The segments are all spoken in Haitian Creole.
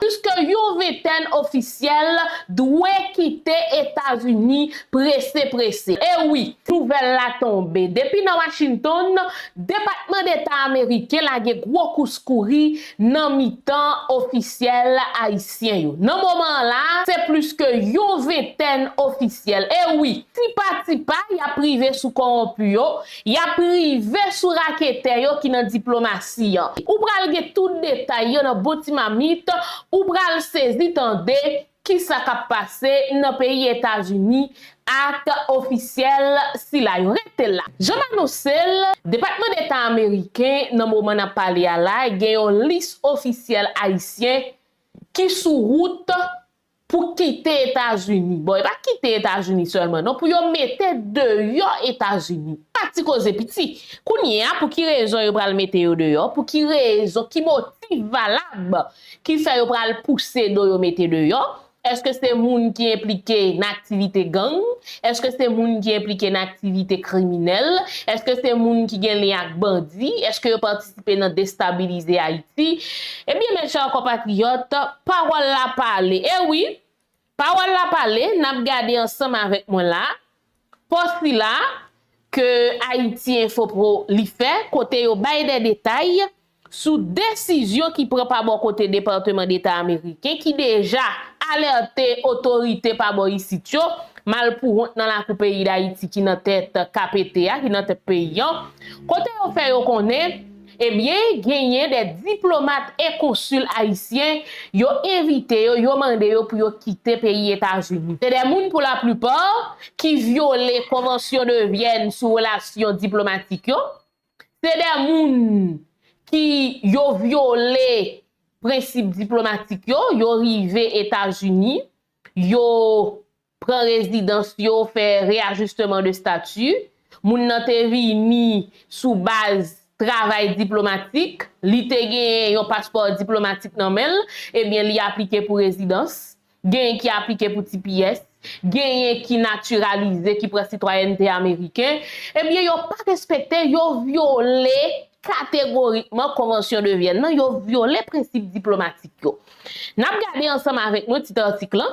Piske yon ventèn ofisyèl dwe kite Etazini prese prese. E wi, nouvèl la tonbe. Depi nan Washington, Depatman Deta Ameriken lage gwo kous kouri nan mitan ofisyèl Ayisyen yo. Nan moman an la, se plis ke yon ventèn ofisyèl, e wi, tipa tipa y ap rive sou kowonpi yo, Yap rive sou raketè yo ki nan diplomasi an. Ou pral gen tout detay yo nan bon ti mamit, ou pral sezi tande kisa kap pase nan peyi Etazini ak ofisyèl sila yo. Rete la! Jan m anonse l, Depatman Deta Ameriken nan moman nap pale a la gen yon lis ofisyèl Ayisyen ki sou wout Pou kite etazini, bon e pa kite etazini sèlman non pou yo mete deyò etazini, pa ti koze piti, kounye a pou ki rezon yo pral mete yo deyò, pou ki rezon, ki motif valab ki fè yo pral pouse do yo mete deyò, èske se moun ki enplike nan aktivite gang, èske se moun ki enplike nan aktivite kriminèl, èske se moun ki gen lyen ak bandi, èske yo patisipe. patisipe nan destabilize Ayiti, ebyen mes chers compatriotes, pawòl la pale, e wi, pawòl la pale, n ap gade ansanm avèk mwen la, pò sila, ke Haïti Info Pro li fè, kote yo bay dè detay, sou desizyon ki pran pa bò kote Departeman Deta Ameriken, ki deja alète otorite pa bò isit yo, malpouwont nan lakou peyi Dayiti ki nan tèt KPT a, ki nan tèt peyi an, Kote yo fè yo konnen, ebyen genyen de diplomat e konsil ayisyen, yo envite yo, yo mande yo pou yo kite peyi Etazini. Se de moun pou la plipa ki vyole konvansyon de Vyèn sou relasyon diplomatik yo, se de moun ki yo vyole prensip diplomatik yo, yo rive Etazini, yo. pran rezidans yo, fè reajisteman de stati, moun nan te vini sou baz travay diplomatik, li te genyen yon paspò diplomatik nan men l, ebyen li aplike pou rezidans, genyen ki aplike pou tps, genyen ki natiralize, ki pran sitwayènte ameriken, ebyen yo pa respekte, yo vyole kategorikman Konvansyon de Vyèn nan, yo vyole prensip diplomatik yo. N ap gade ansanm avèk mwen tit atik lan.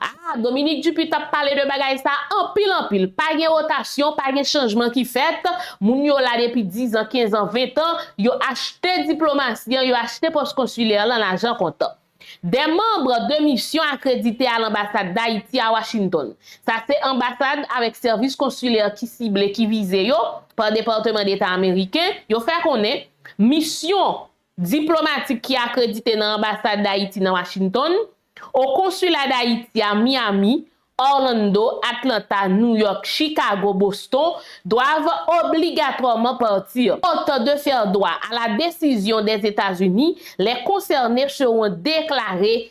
Ah Dominique Dupuy tap pale de bagay sa anpil anpil pa gen rotasyon pa gen chanjman ki fèt moun yo la depi 10 ans 15 ans 20 ans yo achte diplomasi an yo achte pòs konsilè lan lajan kontan dè manbre de misyon akredite a lanbasad dayiti a Washington sa se anbasad avèk sèvis konsilè ki sible ki vize yo pa departeman deta ameriken yo fè konnen misyon diplomatik ki akredite nan Anbasad Dayiti nan Washington, o Konsila Dayiti a Miami, Orlando, Atlanta, New York, Chicago, Boston, doivent obligatoirement partir. Autant de faire droit à la décision des États-Unis les concernés seront déclarés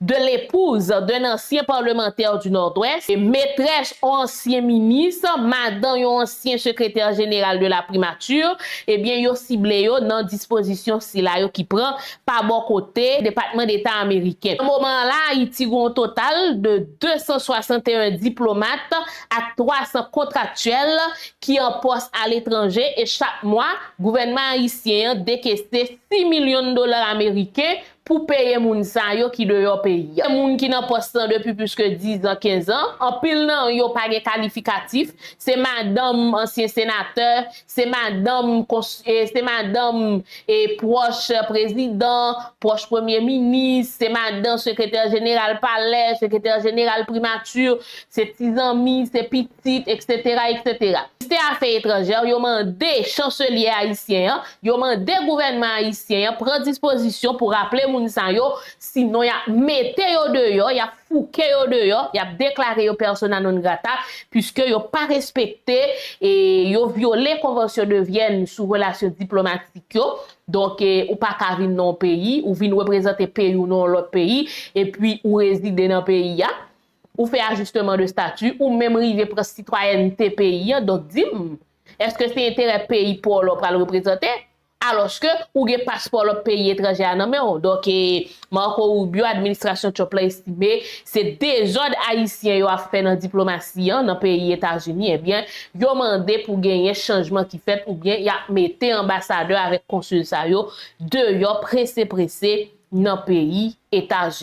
de l'épouse d'un ancien parlementaire du Nord-Ouest, metrès on ansyen minis, madan yon ansyen sekretè jeneral de la primature, ebyen yo sible yo nan dispozisyon sila yo ki pran pa bò kote Depatman Deta ameriken. Nan moman an la Ayiti gen yon total de 261 diplomat ak 300 kontraktyèl ki an pòs aletranje e chak mwa gouvènman ayisyen an dekese 6 milyon dola ameriken pou peye moun sa yo ki deyò peyi a. Se moun ki nan pòs lan depi plis ke dizan, kenzan, anpil nan yo pa gen kalifikatif, se madanm ansyen senatè, se madanm se madanm e pwòch prezidan, pwòch premye minis, se madan sekretè jeneral palè, sekretè jeneral primati, se ti zanmi, se pitit, eksetera, eksetera. Ministè afè etranjè yo mande chanselyè ayisyen an Yo mande gouvènman ayisyen an pran dispozisyon pou raple moun sa yo, sinon y ap mete yo deyò, y ap fouke yo deyò, y ap deklare yo persona non grata, puiske yo pa respekte e yo vyole Konvansyon de Vyèn sou relasyon diplomatik yo, donk ou pa ka vin nan yon peyi, ou vin reprezante peyi w nan yon lòt peyi, epi ou rezide nan peyi a, ou fè ajisteman de stati, ou menm rive pran sitwayènte peyi an, donk di m. Eske se enterè peyi paw la w pral reprezante? Aloske ou gen paspò lòt peyi etranje a nan men w. Donk e Marco Rubio administrasyon Trump la estime se dezòd ayisyen yo ap fè nan diplomasi an nan peyi Etazini ebyen yo mande pou genyen chanjman ki fèt oubyen yap mete anbasadè avèk konsil sa yo deyò prese prese nan peyi Etazini.